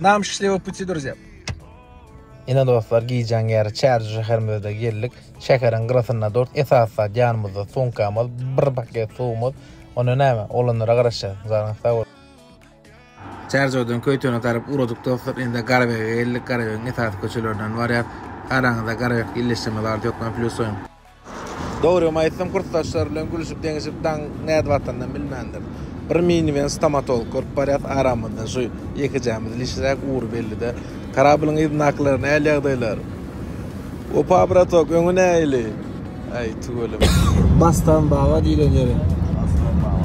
Nam şşşliwa puti druzýa. Ine dostlar gijäň ýeri Çärje şäherimize geldik. Şäheriň gyrasynda durt. Esasy zat ýanymyzda sumkamyz, bir paket suwumyz. Onda näme? Oglanlara garaşýas. Janyňyz sag bolsun. Çärjewodan Köýtene tarap ugradyk dostlar. Indi Garabege geldik. Garabegiň esasy köçelerinden barýas. Araňyzda Garabekde illeşdirme zady ýok. Men plýusoýum. Dogrymy aýtsam, kursdaşlary bilen gülüşip-deňişip daň nädip atanynam bilmändir. Bir miniwen stomatolog görüp barýas, aramyzda şu ýekejämiz lişräk ugry belli-dä. Karabliň yzyndakylar, näl ýagdaýlar? Opa, bratok, öňi näili? Äý, tüweleme. Bastan baba diýlen ýeri. Bastan baba.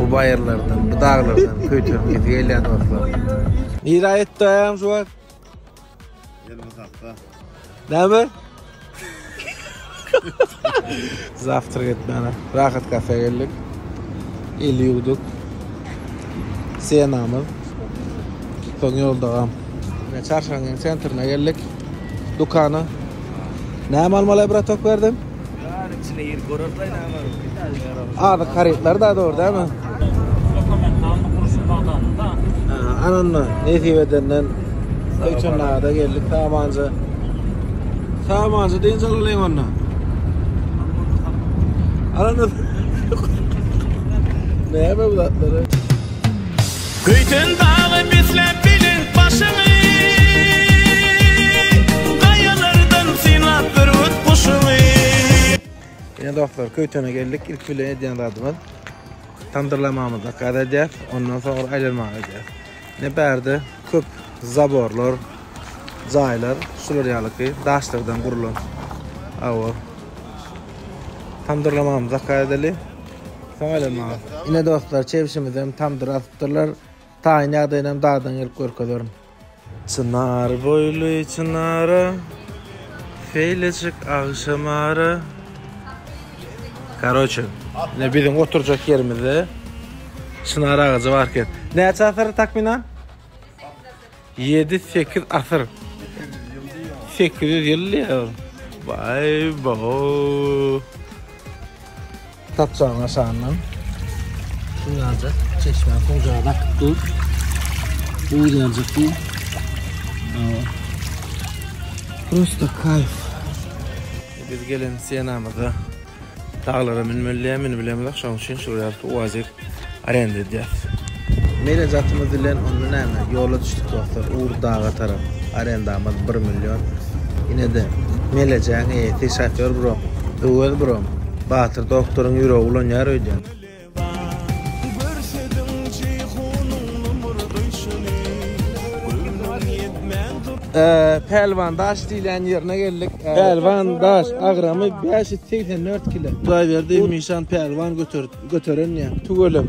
Bu bayırlardan, bu dağlardan köytörüm gezi gelýän dostlar. Nire aýtdy aýam şu wagt? Näme? Zawtrak etmäne. Rahat kafe geldik. El ýuwduk. Senamyz. Soň ýolda gam. Çarşanyň sentrine geldik. Dukana. Näme almaly bratok berdim? Ýaryň içine ýer görerler näme almaly. Azyk harytlar da dogry dämi? Dokumentalny gurşun bazarynda. Ananda nesip edenden Söýçenada geldik Samanja. Samanja dynç alalyň onda. Ananda. Näme bu zatlar? Göýden dagy besläp belent başyňy, Gaýalardan synlap bürgüt guşuňy. Ine dostlar, Köýtene geldik. Ilki bilen edýän zadymyz tamdyrlamamyzy zakaz edýäs. Ondan soňra aýlanmaga gidýäs. Ine bärde köp zaborlar, jaýlar, şular ýalyky daşlardan gurlan. Awa. Tamdyrlamamyzy zakaz edeli. Soň elem maňa. Ine dostlar, çebşimizem tamdyra asypdyrlar. Taýyn ýagdaýynam dadyny gelip görkezerin. Çynar boýly çynara, Şeýlejik agşam ara. Karoçe, ine biziň oturjak ýerimizde çynar agajy bar eken. Näçe asyr takmynan? Ýedi sekiz asyr. Sekiz ýüz ýyl diýýär. Baý bo. Tapjagyň aşagyndan. Şunlarca çeşme hojaga bakyp dur. Bu ýerjik bu. Prosta kayf. Biz gelen senamyza Daglara münmeli däl münüp bilemizok şoň üçin şu ýaly uazik arenda edýäs. Meýle zatymyz bilen onda näme ýola düşdük dostlar ugur daga tarap arendamyz bir million inede meýlejäň eýesi şofýor brom Öwez brom Batyr doktoryň ýüregi ulanýar öýdýän. Pälwan daş diýilýän ýerine geldik. Pälwan daş agramy 584 kilo. Hudaýberdi Mişan Pälwan göterip göteren ýa tüweleme.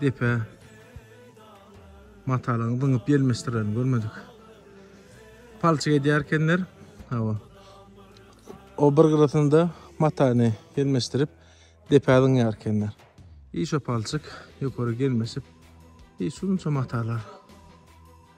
depe matalygyny zyňyp gelmişdirlerini görmedik. Palçyk edýärkenler, hawa. O bir gyrasynda matany gelmişdirip depe zyňýarkenler. Hiç o palçyk ýokary gelmişip, hiç şunça matalar.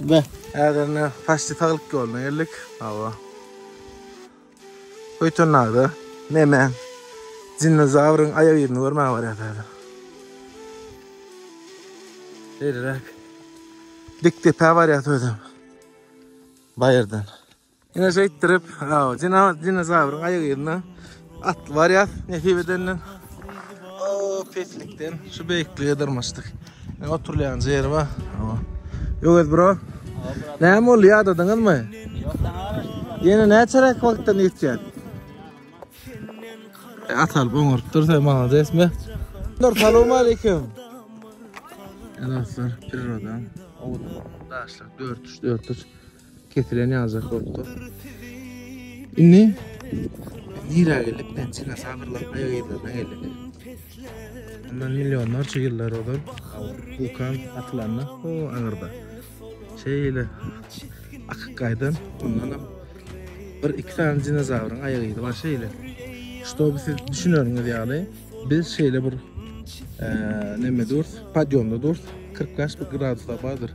Be. Häzirine paşti saglyk ýoluna geldik. Hawa. Öýtönlerde neme? Dinozawryň aýak ýerini görmäge barýas häzir. Şeýleräk. Dik depä barýas özem. Baýyrdan. Ine şeýtdirip, aw, jina dinozawryň aýak ýerine atly barýar. Nesip edende o peslikden şu beýiklige dyrmaşdyk. Ne oturýan ýeri bar. Aw. Ýöwez bro. Näme boldy ýadadyňyzmy? Ýene näçeräk wagtdan ýetýär? E, Atal boňurup dursa maladesmi? Nur salam aleyküm. Dostlar, priroda, owadan daşlar, dört üç, dört üç. Kesilen ýaljak bolup dur. Indi nirä geldik? Pensiýa sabyrlaryň aýagyzlaryna geldik. Ondan millionlarça ýyllar ozal wulkan atylanda, o aňyrda. Şeýle akyp gaýdan, ondan hem bir iki sany dinozawryň aýak izi bar şeýle. Ştoby siz düşüneriňiz ýaly, biz şeýle bir e, neme durs, podýomda durs, 40 graduslar bardyr.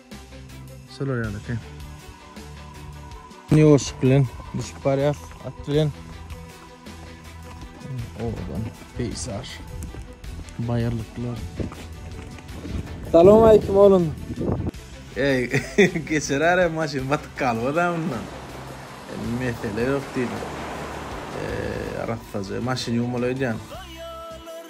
Şolar ýaly eken. Ýoşup bilen düşüp barýar at bilen. Oradan peýsar. Baýyrlyklar. Salam aýkim oglum. Ey, geçer ara maşyn batyk galyp adamdan. Mesele yok diýdim. Eee, arassaja maşyn ýuwmalaýdýan.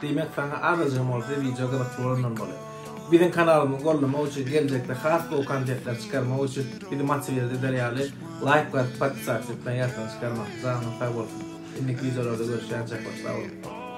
Diýmek saňa azajygam bolsa wideo gyzykly bolandan bolar. Biziň kanalymyzy gollamak üçin geljekde has gowy kontentler çykarmak üçin bizi motiwirat eder ýaly laýk basyp podpisasiýa etmegi ýatdan çykarmaň. Janyňyz sag bolsun. Indiki wideolarda görüşýänçä hoşsaboluň.